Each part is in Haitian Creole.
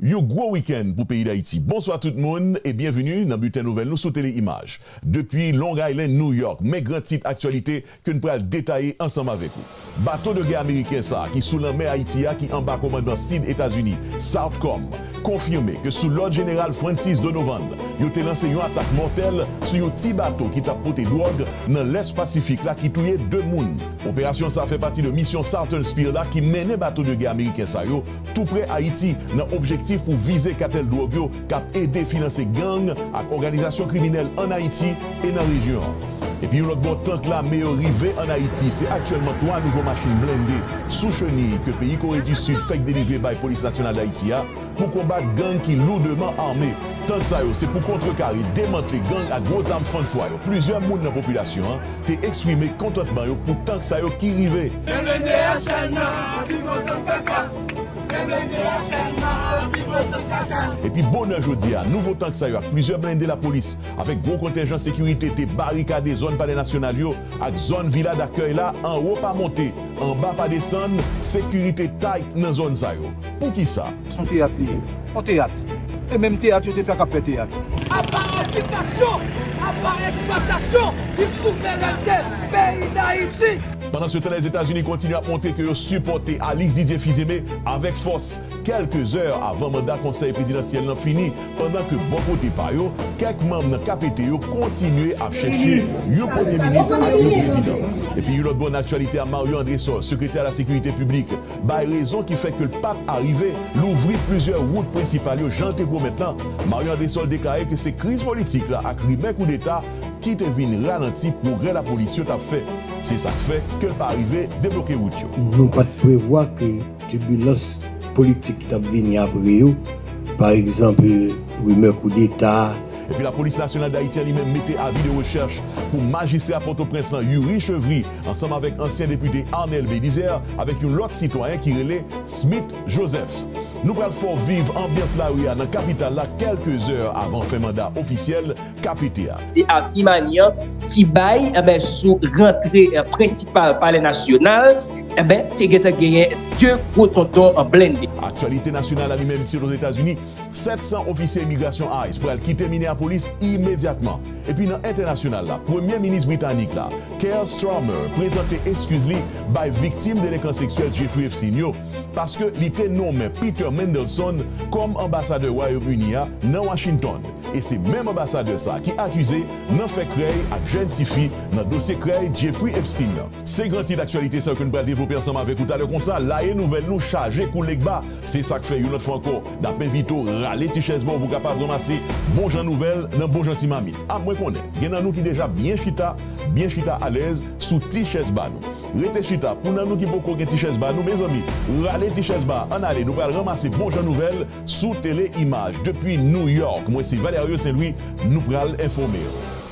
Yon gwo wikenn pou peyi Dayiti. Bonswa tout moun e byenveni nan bilten nouvèl nou sou Tele Imaj depi Long Island, New York. Men gran tit aktyalite ke n pral detaye ansanm avèk ou. Bato de gè ameriken sa ki sou lanmè Ayiti a ki anba komandman Sid Etazini, Southcom, konfime ke sou lòd Jeneral Francis Donovan, yo te lanse yon atak mòtèl sou yon ti bato ki tap pote dwòg nan lès Pasifik la ki touye 2 moun. Operasyon sa fè pati de misyon Southern Spear la ki mennen bato de gè ameriken sa yo tou prè Ayiti nan objektif pou vize katèl dwòg yo k ap ede finanse gang ak òganizasyon kriminèl ann Ayiti e nan rejyon an. Epi yon lòt bò, tank lame yo rive ann Ayiti, se aktyèlman 3 nouvo machin blende sou cheniy ke peyi Kore di Sid fèk delivre bay Polis Nasyonal Dayiti a pou konbat gang ki loudeman ame. Tank sa yo se pou kontrekare, demantle gang ak gwo zam fann fwa yo plizyè moun nan popilasyon an te eksprime kontantman yo pou tank sa yo ki rive. Men blende a chal nan anpil bon san kaka. Men blende a chal nan anpil bon san kaka. Epi bonè jodi a, nouvo tank sa yo ak plizyè blende lapolis avèk gwo kontenjan sekirite te barikade zòn Palè Nasyonal yo ak zòn Vila Dakèy la, anwo pa monte, anba pa desann, sekirite tight nan zòn sa yo. Poukisa? S on teyat li ye. On teyat. E menm teyat yo te fè k ap fè teyat. Apa okipasyon, apa eksplwatasyon ki p souvènète peyi Dayiti. Pandansetan Lèzetazini kontinye ap montre ke yo sipòte Alix Didier Fils-Aimé avèk fòs, kèlke zè avan manda konsèy prezidansyèl lan fini, pandan ke bò kote pa yo, kèk manm nan KPT yo kontinye ap chèche yon premye minis ak yon prezidan. Epi yon lòt bò nan aktyalite a Mario Andrésol, sekretè ala sekirite piblik, bay rezon ki fè ke l pa p arive louvri plizyè wout prensipal yo jan l te pwomèt lan, Marion Andrésol deklare ke se kriz politik la ak rimè koudeta ki te vin ralanti pwogrè lapolis yo t ap fè. Se sa k fè ke l pa arive debloke wout yo. Nou pa t prevwa ke tibilans politik ki t ap vini apre yo, pa egzanp rimè koudeta, Epi Lapolis Nasyonal Dayiti an li menm mete avi de rechèch pou majistra Pòtoprens lan Youri Chevry ansanm avèk ansyen depite Arnel Bélizaire avèk yon lòt sitwayen ki rele Smith Joseph. Nou pral fè w viv anbyans lari a nan kapital la kèlke zè avan fen manda ofisyèl KPT a. Se Avi Manian ki bay sou rantre prensipal Palè Nasyonal, te gentan genyen 2 gwo tonton blennde. Aktyalite nasyonal la li menm isit Ozetazini, 700 ofisye imigrasyon ice pral kite Minneapolis imedyatman. Epi nan entènasyonal la, Premye Minis Britanik la, Keir Starmer prezante eskiz li bay viktim delekan seksyèl Jeffrey Epstein yo paske li te nonmen Peter Mandelson kòm anbasadè Wayom Ini a nan Washington e se menm anbasadè sa ki akize nan fè krèy ak jèn ti fi nan dosye krèy Jeffrey Epstein nan. Se gran tit aktyalite sa yo ke nou pral devlope ansanm avèk ou talè konsa la e nouvèl nou chaje kou Legba. Se sa k fè yon lòt fwa ankò, n ap envite w rale ti chèz ba w pou w kapab ranmase bon jan nouvèl nan bon jan ti mamit. A Mwen konnen gen nan nou ki deja byen chita, byen chita alèz sou ti chèz ba nou. Rete chita pou nan nou ki poko gen ti chèz ba nou, mezanmi, rale ti chèz ba a, ann ale nou pral ranmase bon jan nouvèl sou Tele Imaj. Depi New York, mwen se Valerio Saint Louis, nou pral enfòme w.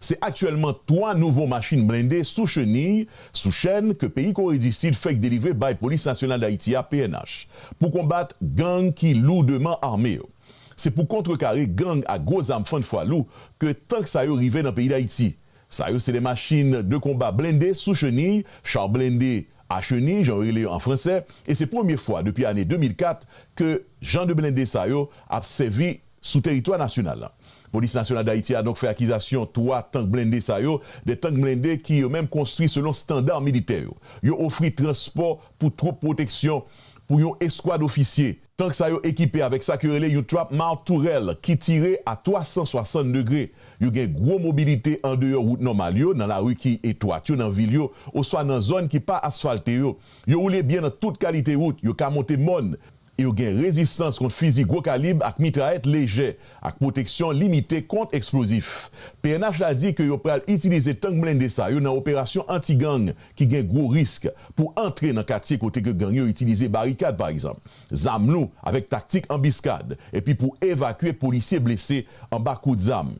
Se aktyèlman 3 nouvo machin blende sou cheniy, sou chèn, ke peyi Kore di Sid fèk delivre bay Polis Nasyonal Dayiti a, pnh, pou konbat gang ki lourdeman ame yo. Se pou kontrekare gang ak gwo zam fann fwa lou ke tank sa yo rive nan peyi Dayiti. Sa yo se de machin de konba blende sou cheniy, char blindé à chenille jan yo rele yo an franse, e se premye fwa depi ane 2004 ke jan de blende sa yo ap sèvi sou teritwa nasyonal la. Polis Nasyonal Dayiti a donk fè akizasyon 3 tank blende sa yo, 2 tank blende ki yo menm konstwi selon standa militè yo. Yo ofri transpò pou twoup pwoteksyon pou yon eskwad ofisye. Tank sa yo ekipe avèk sa ke rele yon trap mouth tourel ki tire a 360 degre. Yo gen gwo mobilite andeyò wout nòmal yo, nan lari ki etwat yo nan vil yo, oswa nan zòn ki pa asfalte yo. Yo woule byen nan tout kalite wout, yo ka monte mòn, Yo gen rezistans kont fizi gwo kalib ak mitrayèt lejè, ak pwoteksyon limite kont eksplozif. Pnh la di ke yo pral itilize tank blende sa yo nan operasyon anti-gang ki gen gwo risk, pou antre nan katye kote ke gang yo itilize barikad pa egzanp, zam lou avèk taktik anbiskad, epi pou evakye polisye blese anba kout zam.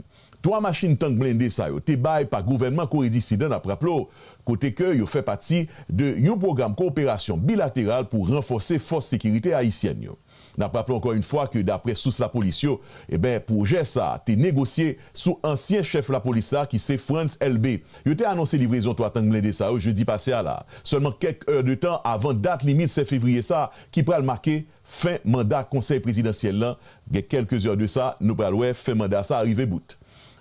Twa machin tank blende sa yo te bay pa gouvènman Kore di Sid an, n ap raple w, kote ke yo fè pati de yon pwogram kowoperasyon bilateral pou ranfòse fòs sekirite ayisyèn yo. N ap raple ankò yon fwa ke daprè sous lapolis yo, eben, pwojè sa a te negosye sou ansyen chèf lapolis la ki se Frantz Elbé. Yo te anonse livrezon twa tank blende sa yo jedi pase a la a, sèlman kèk è de tan avan dat limit 7 fevriye sa a ki pral make Fen manda konsèy prezidansyèl lan gen kèlke zè de sa, nou pral wè fen manda sa a rive bout.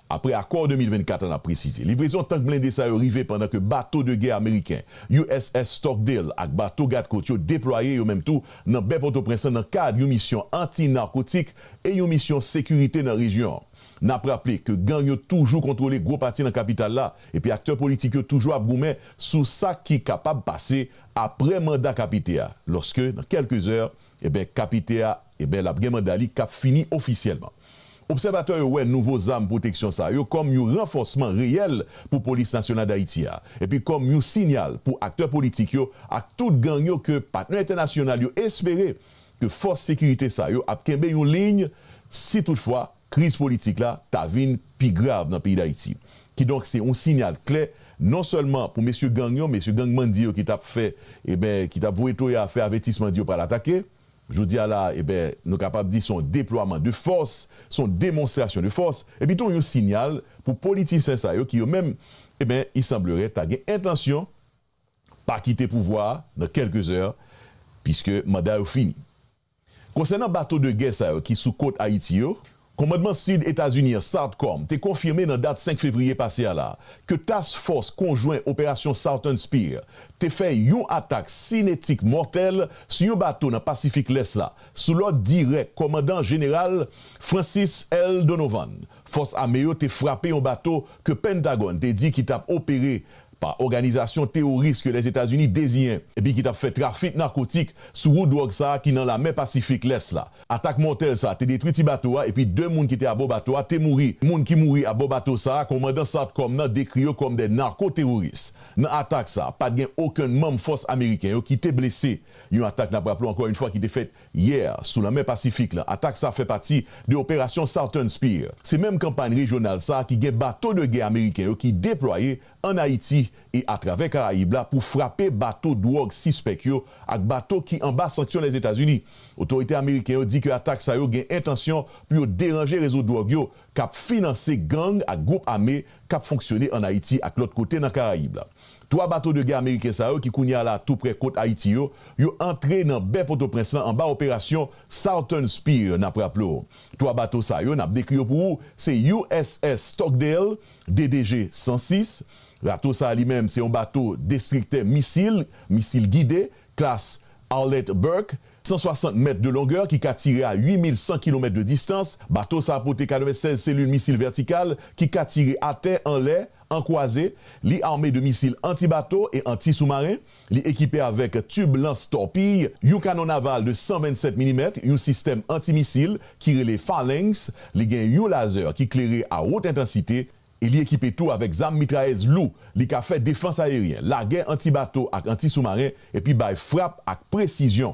Apre akò 2024 an ap presize. Livrezon tank blende sa yo rive pandan ke bato de gè ameriken USS Stockdale ak bato gad kot yo deplwaye yo menm tou nan bè Pòtoprens lan nan kad yon misyon anti narkotik e yon misyon sekirite nan rejyon an. N ap raple ke gang yo toujou kontwole gwo pati nan kapital la epi aktè politik yo toujou ap goumen sou sa ki kapab pase Apre manda kapite a, loske nan kelke zè, eben kapite a, eben lap gen manda li kap fini ofisyelman. Obsèvatè yo wè nouvo zam pwoteksyon sa yo kom yon ranfosman reyèl pou Polis Nasyonal Dayiti a, epi kom yon sinyal pou aktè politik yo ak tout gang yo ke patnè entènasyonal yo espere ke fos sekirite sa yo ap kenbe yon liy si tout fwa Kriz politik la ka vin pi grav nan peyi Dayiti. Kidonk se yon sinyal klè non sèlman pou mesye gang yo, mesye gang bandi yo ki t ap fè eben ki t ap voye toya a fè avètisman di yo pral atake. Jodi a la a eben nou kapab di se yon deplwaman de fòs, se yon demonstrasyon de fòs epi tou yon sinyal pou politisyen sa yo ki yo menm eben i sanblerait ta gen entansyon pa kite pouvwa a nan kèlke zè piske manda yo fini. Konsènan bato de gè sa yo ki sou kot Ayiti yo, Komandman Sid Etazini an, Sartcom, te konfime nan dat 5 fevriye pase a la ke Task Fòs Konjwen Operasyon Southern Spear te fè yon atak sinetik mòtèl sou yon bato nan Pasifik Lès la, sou lòd dirèk Kòmandan Jeneral Francis L. Donovan. Fòs ame yo te frape yon bato ke Pentagòn te di ki tap opere pa òganizasyon teworis ke Lèzetazini deziyen epi ki tap fè trafik nakotik sou wout dwòg sa ki nan lamè Pasifik lès la. Atak mòtèl sa te detwi ti bato a epi 2 moun ki te abò bato a te mouri. Moun ki mouri abò bato sa a kòmandan Sartcom nan dekri yo kòm de narko-teworis. Nan atak sa, pat gen okenn manm fòs ameriken yo ki te blese. Yon atak nap raple ankò yon fwa ki te fèt yè, sou lanmè Pasifik la. Atak sa fè pati de Operasyon Southern Spear. Se menm kanpay rejyonal sa ki gen bato de gè ameriken yo ki deplwaye ann Ayiti e atravè Karayib la pou frape bato dwòg sispèk yo ak bato ki anba sanksyon Lèzetazini. Otorite ameriken yo di ke atak sa yo gen entansyon pou yo deranje rezo dwòg yo k ap finanse gang ak gwoup ame k ap fonksyone ann Ayiti ak lòt kote nan Karayib la. Twa bato de gè ameriken sa yo ki kounye a la tou prè kot Ayiti yo, yo antre nan bè Potoprens lan anba operasyon Southern Spear. N ap raple w, twa bato sa yo, n ap dekri yo pou ou, se USS Stockdale, DDG 106. Rato sa a li menm se yon bato destriktè misil, misil gide, klas Arlette Burke, 160 mèt de longè ki ka tire a 8100 kilomèt de distans. Bato sa a pote 96 selil misil vètikal ki ka tire atè, anlè, An kwaze, li ame de misil anti-bato e anti-soumaren, li ekipe avèk tib lans tòpiy, yon kanon naval de 127 milimèt, yon sistèm anti-misil ki rele Phalanx, li gen yon lazè ki klere a wot entansite, e li ekipe tou avèk zam mitrayèz lou. Li ka fè defans ayeryen, lagè anti-bato ak anti-soumaren, epi bay frap ak presizyon.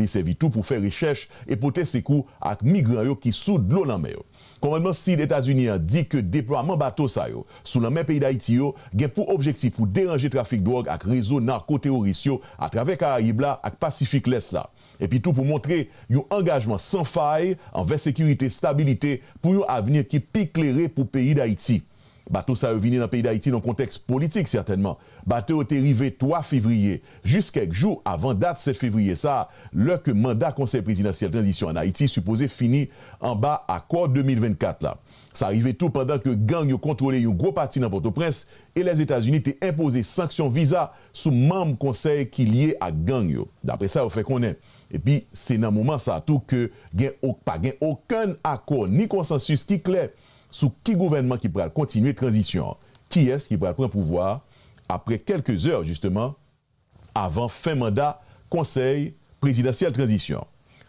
Li sèvi tou pou fè rechèch e pote sekou ak migran yo ki sou dlo lanmè yo. Kòmandman Sid Etazini an di ke deplwaman bato sa yo sou lanmè peyi Dayiti yo gen pou objektif pou deranje trafik dwòg ak rezo narko-teworis yo atravè Karayib la ak Pasifik Lès la, epi tou pou montre yon angajman san fay anvè sekirite, stabilite pou yon avni ki pi klere pou peyi Dayiti. Bato sa yo vini nan peyi Dayiti nan kontèks politik sètènman. Bato yo te rive 3 fevriye, jis kèk jou avan dat 7 fevriye sa, lè ke manda Konsèy Prezidansyèl Tranzisyon an Ayiti sipoze fini anba akò 2024 la. Sa rive tou pandan ke gang yo kontwole yon gwo pati nan Pòtoprens e Lèzetazini te enpoze sanksyon viza sou manm Konsèy ki lye ak gang yo, dapre sa yo fè konnen. Epi se nan moman sa tou ke gen ok pa gen okenn akò ni konsansis ki klè. sou ki gouvènman ki pral kontinye tranzisyon an, kiyès ki pral pran pouvwa a apre kèlke zè jisteman avan fen manda konsèy prezidansyèl tranzisyon.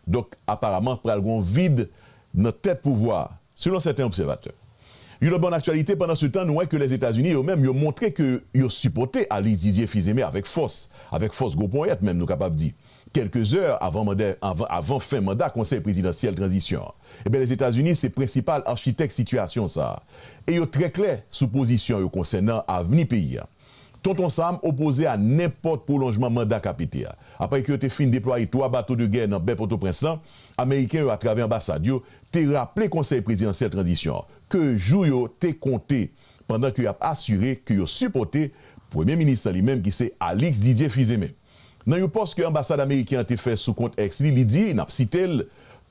Donk aparaman pral gen yon vid nan tèt pouvwa a, selon sèten obsèvatè. Yon lòt bò nan aktyalite, pandansetan nou wè ke Lèzetazini yo menm yo montre ke yo sipòte Alice Didier Fils-Aimé avèk fòs, avèk fòs gwo ponyèt menm nou kapab di. Kèlke zè avan manda avan fen manda Konsèy Prezidansyèl Tranzisyon an, enben Lèzetazini se prensipal architèk sitiyasyon sa a e yo trè klè sou pozisyon yo konsènan avni peyi a. Tonton Sam opoze a nenpòt pwolonjman manda KPT a. Apre ke yo te fin deplwaye 3 bato de gè nan bè Pòtoprens lan, Ameriken yo atravè anbasad yo te raple Konsèy Prezidansyèl Tranzisyon an ke jou yo te konte pandan ke y ap asire ke yo sipòte Premye Minis lan li menm ki se Alix Didier Fils-Aimé. Nan yon pòs ke anbasad ameriken an te fè sou kont X li, li di, n ap site l,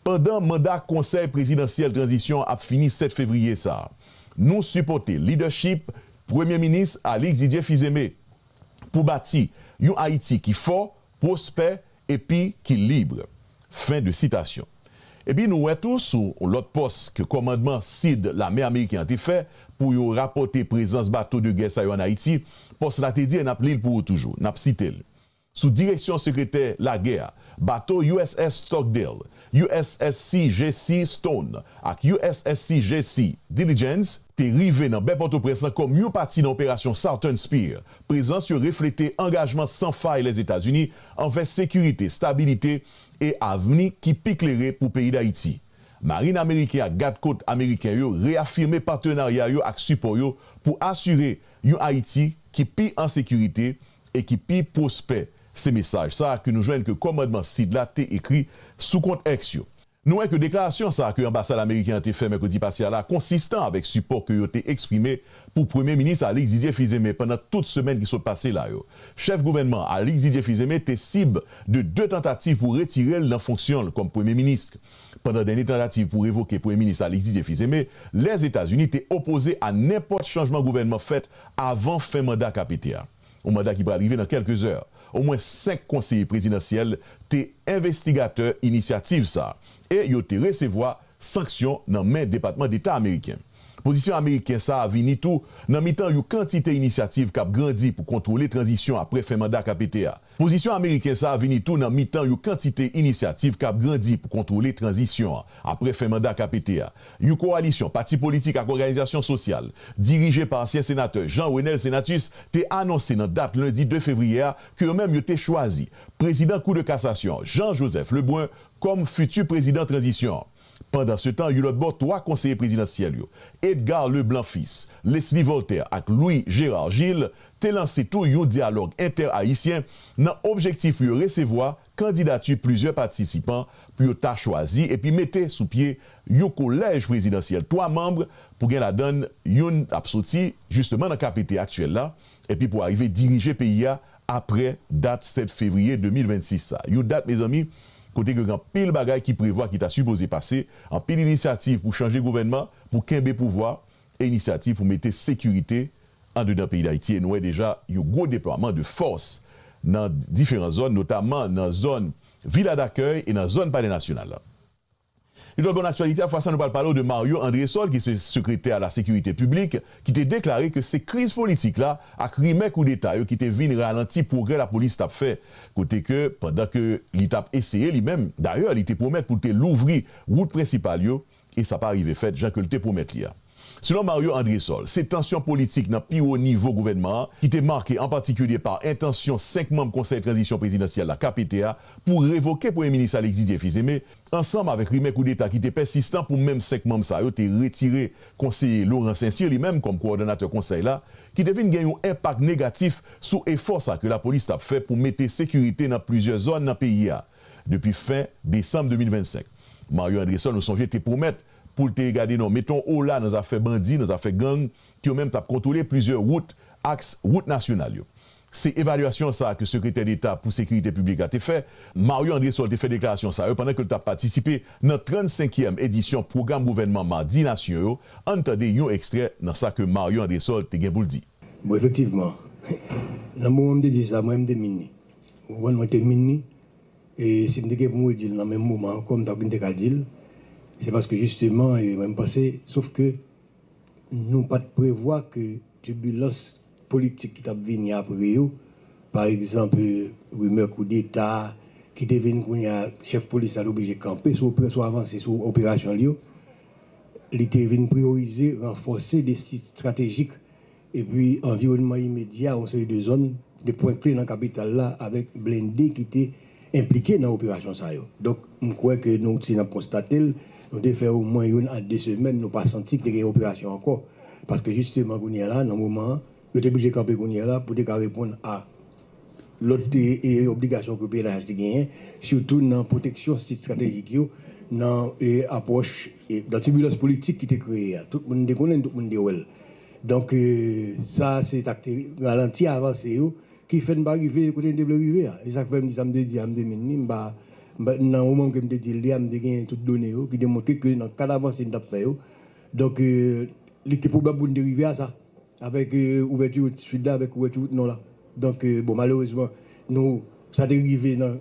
Pandan manda Konsèy Prezidansyèl Tranzisyon ap fini 7 fevriye sa a, nou sipòte lidèchip Premye Minis Alix Didier Fils-Aimé pou bati yon Ayiti ki fò, pwospè epi ki lib. Fen de sitasyon. Epi nou wè tou sou yon lòt pòs ke kòmandman sid lame ameriken an te fè pou yo rapòte prezans bato de gè sa yo an Ayiti, pòs la te di e nap li l pou ou toujou, nap site l, Sou direksyon sekretè lagè a, bato USS Stockdale, USSC JC Stone ak USSC JC Diligence te rive nan bè Pòtoprens lan kòm yon pati nan operasyon Southern Spear. Prezans yo reflete angajman san fay Lèzetazini anvè sekirite, stabilite e avni ki pi klere pou peyi Dayiti. Marin ameriken ak Gad Kot ameriken yo reyafime patenarya yo ak sipò yo pou asire yon Ayiti ki pi an sekirite e ki pi pwospè, se mesaj sa ke nou jwenn ke kòmandman Sid la te ekri sou kont X yo. Nou wè ke deklarasyon sa ke anbasad ameriken an te fè mèkredi pase a la konsistan avèk sipò ke yo te eksprime pou Premye Minis Alix Didier Fils-Aimé pandan tout semèn ki sot pase la yo. Chèf gouvènman Alix Didier Fils-Aimé te sib de 2 tantativ pou retire l nan fonksyon l kòm Premye Minis pandan dènye tantativ pou revoke Premye Minis Alix Didier Fils-Aimé, Lèzetazini te opoze a nenpòt chanjman gouvènman fèt avan fen manda kap ete a. yon manda ki pral rive nan kèlke zè. Omwen 5 konseye prezidansyèl te envestigatè inisyativ sa a e yo te resevwa sanksyon nan men Depatman Deta ameriken. Pozisyon ameriken sa a vini tou nan mitan yon kantite inisyativ k ap grandi pou kontwole tranzisyon apre fen manda KPT a. Pozisyon ameriken sa vini tou nan mitan yon kantite inisyativ k ap grandi pou kontwole tranzisyon an apre fen manda KPT a. Yon kowalisyon pati politik ak òganizasyon sosyal, dirije pa ansyen senatè Jean Renel Senatus, te anonse nan dat lendi 2 fevriye a ke yo menm yo te chwazi prezidan Kou de Kasasyon an, Jean Joseph Lebrun, kòm fiti prezidan tranzisyon an. Pandansetan, yon lòt bò, 3 konseye prezidansyèl yo, Edgar Leblanc Fils, Leslie Voltaire ak Louis Gérard Gilles, te lanse tou yon dyalòg entè-ayisyen nan objektif pou yo resevwa kandidati plizyè patisipan pou yo ta chwazi epi mete sou pye yon kolèj prezidansyèl 3 manb pou gen ladan youn ap soti jisteman nan KPT aktyèl la epi pou arive dirije peyi a aprè dat 7 fevriye 2026 sa. Yon dat mezanmi kote gen anpil bagay ki prevwa ki ta sipoze pase, anpil inisyativ pou chanje gouvènman, pou kenbe pouvwa e inisyativ pou mete sekirite andedan peyi Dayiti e nou wè deja yon gwo deplwaman de fòs nan diferan zòn notaman nan zòn Vila Dakèy e nan zòn Palè Nasyonal la. Li pral ba nou aktyalite a, fwa sa nou pral pale w de Mario Andresol ki se sekretè a la sekirite piblik ki te deklare ke se kriz politik la ak rimè koudeta yo ki te vin ralanti pwogrè lapolis tap fè kote ke pandan ke li tap eseye li menm dayè li te pwomèt pou l te louvri wout prensipal yo e sa pa rive fèt jan ke l te pwomèt li a. Selon Mario Andresol, se tansyon politik nan pi wo nivo gouvènman an ki te make an patikilye pa entansyon 5 manm konsèy tranzisyon prezidansyèl la, KPT, a pou revoke premye minis Alexis Dieu Fils-Aimé, ansanm avèk rimè koudeta ki te pèsistan pou menm 5 manm sa yo te retire konseye Laurent Saincyr li menm kòm kowòdonatè konsèy la, ki te vin gen yon enpak negatif sou efò sa ke lapolis tap fè pou mete sekirite nan plizyè zòn nan peyi a depi fen desanm 2025. Mario Andresol nou sonje te pwomèt pou l te gade nan mete yon ola nan zafè bandi, nan zafè gang ki yo menm tap kontwole plizyè wout, aks wout nasyonal yo. Se evalyasyon sa a ke Sekretè Deta pou Sekirite Piblik la te fè, Mario Andresol te fè deklarasyon sa yo pandan ke l t ap patisipe nan 35 kièm edisyon pwogram gouvènman Madi Nasyon yo, ann tande yon ekstrè nan sa ke Mario Andresol te gen pou l di. Bon efektivman, nan moman m te di sa, mwen m te min ni. Ou konprann, mwen te min ni, e si m te gen pou m redi l nan menm moman ankò, m ta vin te ka di l, se paske jisteman, e mwen m panse, sof ke nou pa t prevwa ke tibilans politik ki t ap vini apre yo, pa egzanp rimè koudeta ki te vin kounye a, chèf polis la te oblije kanpe sou operasyon, avanse sou operasyon li yo, li te vin priyorize ranfòse de sit estratejik epi anviwònman imedya yon seri de zòn, de pwen kle nan kapital la avèk blende ki te. enplike nan operasyon sa yo. Donk, m kwè ke nou, si n ap konstate l, nou te fè omwen youn a de semèn nou pa santi ke te gen operasyon ankò. Paske jisteman kounye a la, nan moman an, yo te blije kanpe kounye a la pou te ka reponn a lòt obligasyon ke pnh te genyen, sitou nan pwoteksyon sit estratejik yo, nan apwòch, nan tibilans politik ki te kreye a. Tout moun te konnen l, tout moun te wè l. Donk, sa a se sa k te ralanti avanse yo Ki fè n pa rive kote n te vle rive a. E sa k fè m di sa m te di a, m te min li. M pa, m pa, nan moman ke m te di l li a, m te genyen tout done yo ki te montre ke nan kad avanse n t ap fè yo, donk li te pwobab pou n te rive a sa, avèk ouvèti wout Sid la, avèk ouvèti wout Nò la. Donk, bon, malerezman, nou, sa te rive nan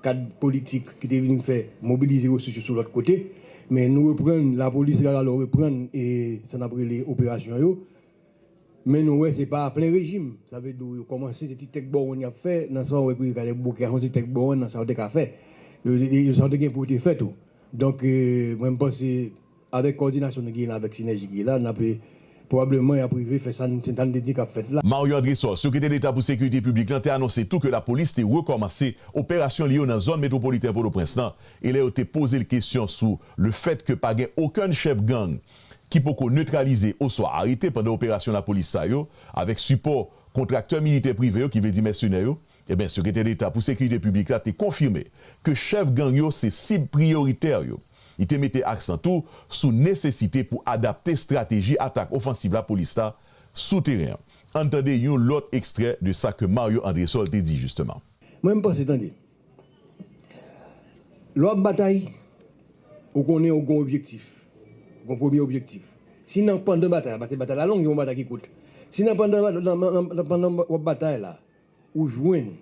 kad politik ki te vin fè mobilize resous yo sou lòt kote. Men nou reprann, lapolis Rara Lò reprann sa n ap rele operasyon yo. Men nou wè se pa a plen rejim. Sa vle di w yo kòmanse se ti tèk bowonn y ap fè nan sa w epi yo gade bouke a se yon ti tèk bowonn nan sa w te ka fè. Yo yo sa w te gen pou w te fè tou. Donk mwen m panse avèk kòdinasyon nou genyen la avèk sinèji ki la n ap pwobableman y ap rive fè sa n sa n te di k ap fèt la. Mario André Sow, Sekretè Deta pou Sekirite Piblik lan te anonse tou ke lapolis te rekòmanse operasyon li yo nan zòn metwopoliten Pòtoprens lan e lè yo te poze l kesyon sou le fèt ke pa gen okenn chèf gang ki poko netralize oswa arete pandan operasyon lapolis sa yo, avèk sipò kontraktè militè prive yo ki vle di mèsenè yo, enben Sekretè Deta pou Sekirite Piblik la te konfime ke chèf gang yo se sib priyoritè yo. Li te mete aksan tou sou nesesite pou adapte estrateji atak ofansiv lapolis la sou teren an. Ann tande yon lòt ekstrè de sa ke Mario Andresol te di jisteman. Mwen m panse tande, Lè w ap batay, ou konnen ou gen objektif. Ou gen yon premye objektif. Si nan pandan batay la, batay la long, se pa yon batay ki kout. Si nan pandan w ap batay la, ou jwenn,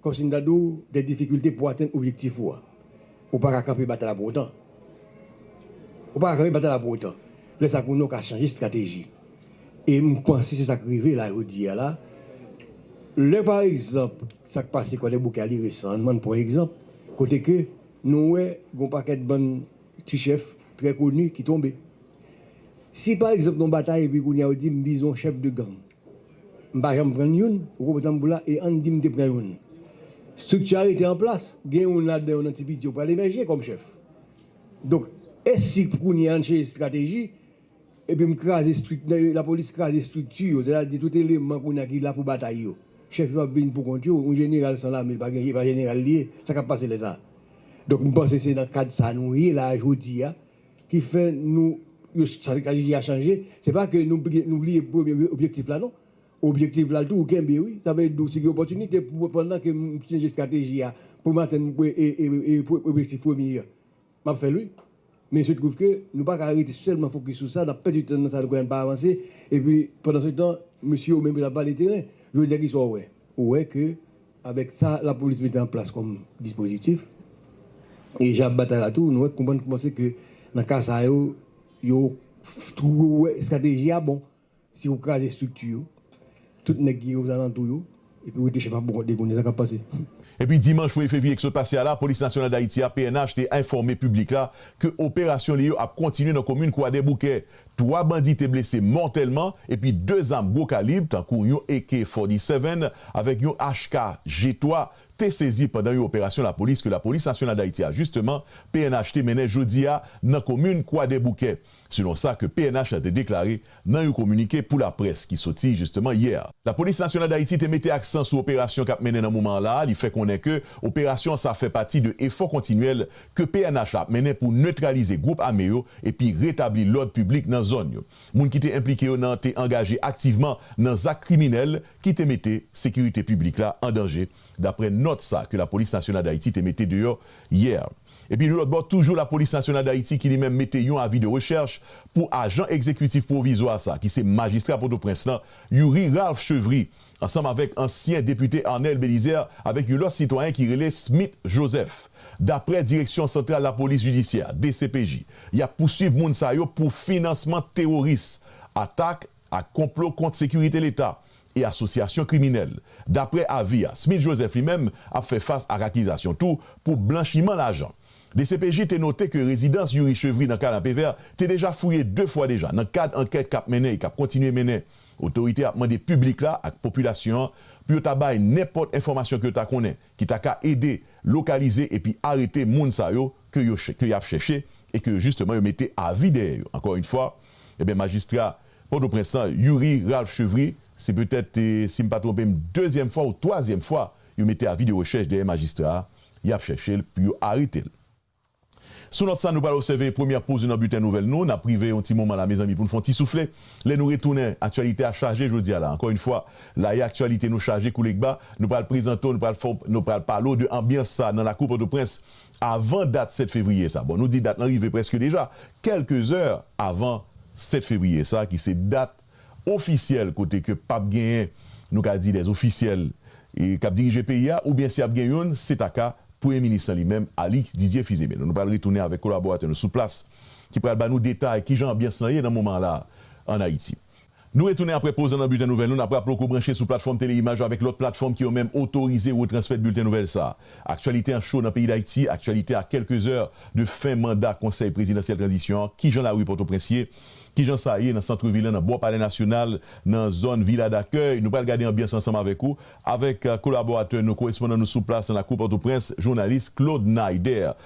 kòm si m ta di w, dè difikilte pou w atenn objektif ou a, Ou pa ka kanpe batay la pou otan. Ou pa ka kanpe batay la pou otan. Lè sa konnen ou ka chanje estrateji. E m panse se sa k rive la jodi a la. Lè pa egzanp sa k pase Kwadèboukè a li resan. Ann pran egzanp kote ke nou wè gon pakèt bann ti chèf trè koni ki tonbe. Si pa egzanp nou batay epi kounye a ou di m vizon chèf de gang. M pa janm pran youn pou kob tanbou la e ann di m te pran youn. Strikti a rete an plas, gen youn ladan yo nan ti piti yo pral emèje kòm chèf. Donk, e si pou kounye a n chanje estrateji epi m kraze strik, lapolis kraze estrikti yo, sètadi tout eleman kounye a ki la pou batay yo. Chèf yo ap vin pou kont yo, yon jeneral san lame pa gen, e pa jeneral li ye, sa k ap pase lè sa a? Donk m panse se nan kad sa nou ye la a jodi a, ki fè nou yo strateji a chanje se pa ke nou bliye premye objektif la non objektif la tou ou kenbe wi sa vle di ou si gen opòtinite pou pandan ke m chanje strateji a pou m atenn objektif premye an m ap fè l wi men il se trouve ke nou pa ka rete sèlman fokis sou sa n ap pèdi tan nan sa nou kwè an n pa avanse epi pandan se tan mesye yo menm yo t ap vale teren jodi a kisa w wè ou wè ke Avèk sa lapolis mete an plas kòm dispozitif, e jan y ap batay la tou, nou wè konprann kouman se ke nan ka sa yo, yo twouve wè estrateji a bon. Se pou kraze estrikti yo, tout nèg ki ozalantou yo, epi wete chèf a pou kont li konnen sa k ap pase. Epi dimanch premye fevriye ki sot pase a la, Polis Nasyonal Dayiti a, pnh, te enfòme piblik la ke operasyon li yo ap kontinye nan komin Kwadèboukè. Twa bandi te blese mòtèlman epi 2 zam gwo kalib tankou yon AK 47 avèk yon HK G3 te sezi pandan yon operasyon lapolis ke Lapolis Nasyonal Dayiti a jisteman, pnh, te mennen jodi a nan komin Kwadèboukè, selon sa ke pnh la te deklare nan yon kominike pou laprès ki soti jisteman yè. Lapolis Nasyonal Dayiti te mete aksan sou operasyon k ap mennen nan moman an la a, li fè konnen ke operasyon sa fè pati de efò kontinyèl ke pnh la ap mennen pou netralize gwoup ame yo epi retabli lòd piblik nan zòn yo. Moun ki te enplike yo nan te angaje aktivman nan zak kriminèl ki te mete sekirite piblik la an danje, daprè nòt sa ke Lapolis Nasyonal Dayiti te mete deyò yè. Epi yon lòt bò toujou Lapolis Nasyonal Dayiti ki li menm mete yon avi de rechèch pou ajan egzekitif pwovizwa sa ki se majistra Pòtoprens lan Youri Ralph Chevry ansanm avèk ansyen depite Arnel Belizaire avèk yon lòt sitwayen ki rele Smith Joseph. Daprè Direksyon Santral Lapolis Jidisyè, dcpj, y ap pouswiv moun sa yo pou finansman teworis, atak ak konplo kont sekirite leta e asosyasyon kriminèl. Daprè avi a, Smith Joseph li menm ap fè fas ak akizasyon tou pou blanchiman lajan. Dcpj te note ke rezidans Youri Chevry nan Kanapevè te deja fouye 2 fwa deja nan kad ankèt k ap mennen e k ap kontinye mennen Otorite ap mande piblik la ak popilasyon an pou yo ta bay nenpòt enfòmasyon ke yo ta konnen ki ta ka ede lokalize epi arete moun sa yo ke yo ke y ap chèche e ke yo jisteman yo mete avi dèyè yo. Ankò yn fwa, enben majistra Pòtoprens lan, Youri Ralph Chevry, se petèt, si m pa twonpe m, dezyèm fwa ou twazyèm fwa yo mete avi de rechèch dèyè majistra a, y ap chèche l pou yo arete l. Sou nòt sa nou pral obsève premyè poz nou nan bilten nouvèl nou. Nap prive yon ti moman la mezanmi pou nou fè yon ti soufle. Lè nou retounen, aktyalite a chaje jodi a la. Ankò yn fwa, la e aktyalite nou chaje kou legba. Nou pral prezante w, nou pral fè w, nou pral pale w de anbyans sa nan lakou Pòtoprens avan dat 7 fevriye sa. Bon nou di dat lan rive prèske deja kèlke zè avan 7 fevriye sa ki se dat. ofisyèl kote ke pap genyen nou ka di dè ofisyèl kap dirije peyi a oubyen si ap gen youn se ta ka premye minis lan li menm Alix Didier Fils-Aimé nou pral retounen avèk kolaboratè nou sou plas ki pral ba nou detay kijan anbyans lan ye nan moman an la an Ayiti. Nou retounen aprè poz lan nan Bilten Nouvèl nou, nap raple w ke w branche sou platfòm Tele-Imaj la avèk lòt platfòm ki yo menm otorize retransmèt Bilten Nouvèl sa a. Aktyalite an cho nan peyi Dayiti, aktyalite a kèlke zè de fen manda Konsèy Prezidansyèl Tranzisyon an, kijan lari Pòtoprens ye, ki jan sa ye nan santrevil lan nan bò palè nasyonal nan zòn vila dakèy, nou pral gade anbyans ansanm avèk ou avèk kolaboratè nou korespondan nou sou plas nan lakou pòtoprens jounalis Claude Naider.